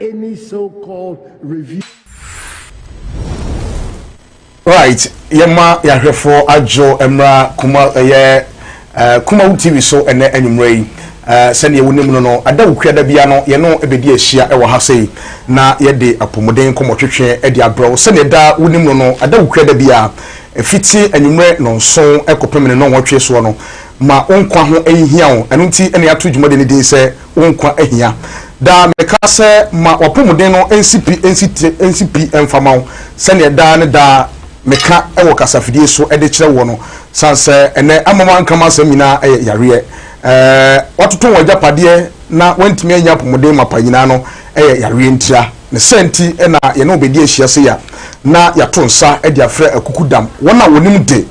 any so called review. right yɛma yɛahwɛfoɔ adwo mmra kuma ɛyɛ eh, kumawo tv so ɛnɛ anwummerɛ yi eh, sɛdeɛ wonim no no ada wo kuada bia no yɛno ɛbɛdi ahyia ɛwɔ ha sei na yɛde apɔmuden nkɔmmɔtwetwe de abrɛ wo sɛdeɛ da wonim no no ada wo kuada bia ɛfiti anwummerɛ nɔnso ɛkɔpem ne nɔnwɔtwe soɔ no ma wo nkwa ho ɛnhia wo ɛno nti ɛne ato dwumade no din sɛ wo nkwa ahia. Daa meka sɛ, Ma w'apɔmuden no nsi pi, nsi ti, nsi pi mfa ma wo, sɛdeɛ daa ne daa meka wɔ kasafidie so de kyerɛ woɔ no. Sane sɛ ɛnnɛ ama woanka m'asɛm nyinaa yɛ yareɛ. Woatoto w'agyapadeɛ na woantumi annya apɔmuden mapa nyinaa no yɛ yareɛ ntia. Ne saa nti na yɛne wo bɛdi ahyia sei a, na yɛato nsa de afrɛ akukudam wɔn a wɔnim de.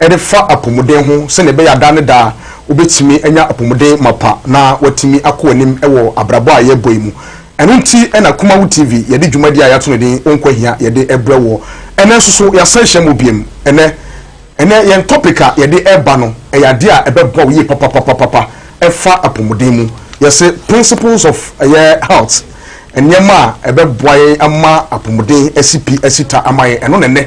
de fa apɔmuden ho sɛnea ɛbɛyɛ a daa ne daa wobetumi anya apɔmuden mapa na wɔatumi akɔ anim wɔ abrabɔ a yɛrebɔ yi mu. Ɛno nti na Kumawo TV yɛde dwumadi a yɛato no din Wo Nkwahia yɛde rebrɛ woɔ. Ɛnnɛ nso so yɛasan ahyia mu biom. Ɛnnɛ, ɛnnɛ yɛn topic a yɛde reba no, ɛyɛ adeɛ a ɛbɛboa wo yie papapapapapa. Ɛfa apɔmuden mu. Yɛse principles of ɛyɛ health, nneɛma a ɛbɛboa yɛn ama apɔmuden asi pi, asi ta ama yɛn. Ɛno na ɛnnɛ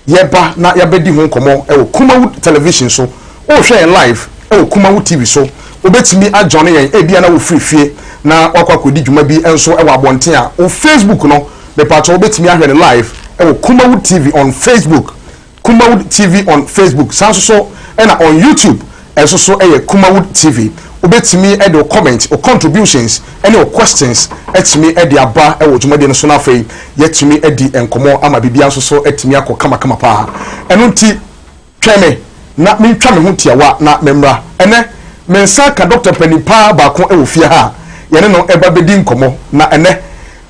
yɛba na yɛabɛdi ho nkɔmmɔ wɔ Kumawu Television so. Worehwɛ yɛn live wɔ Kumawu TV so. Wobɛtumi ajoine yɛn ebia na wofiri fie na woakɔ akɔdi dwuma bi nso wɔ abɔnten a. Wo Facebook no, mepakyɛw wobɛtumi ahwɛ no live wɔ Kumawu TV on Facebook, Kumawu TV on Facebook. Saa nso so na on YouTube. Ɛnso so yɛ Kumawood TV. Wobɛtumi de wo comment, wo contributions ne wo questions atumi de aba wɔ dwumadie no so na afei yɛatumi adi nkɔmmɔ ama biribiara nso so atumi akɔ kamakama pa ara. Ɛno nti twɛn me na mentwa me ho tiawa na memmra. Ɛnnɛ mensan ka Dɔkta mpanin pa ara baako wɔ fie ha a yɛne no reba bɛdi nkɔmmɔ na ɛnnɛ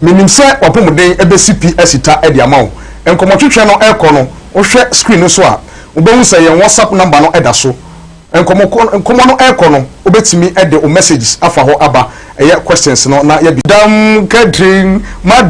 Menim sɛ w'apɔmuden bɛsi pi asi ta de ama wo. Nkɔmmɔtwetwe no rekɔ no, wohwɛ screen no so a, wobɛhu sɛ yɛn WhatsApp number no da so. Nkɔmmɔ kɔ nkɔmmɔ no rekɔ no, wobɛtumi de wo messages afa hɔ aba ɛyɛ questions no na yɛde. Dam Catherine, M'adam.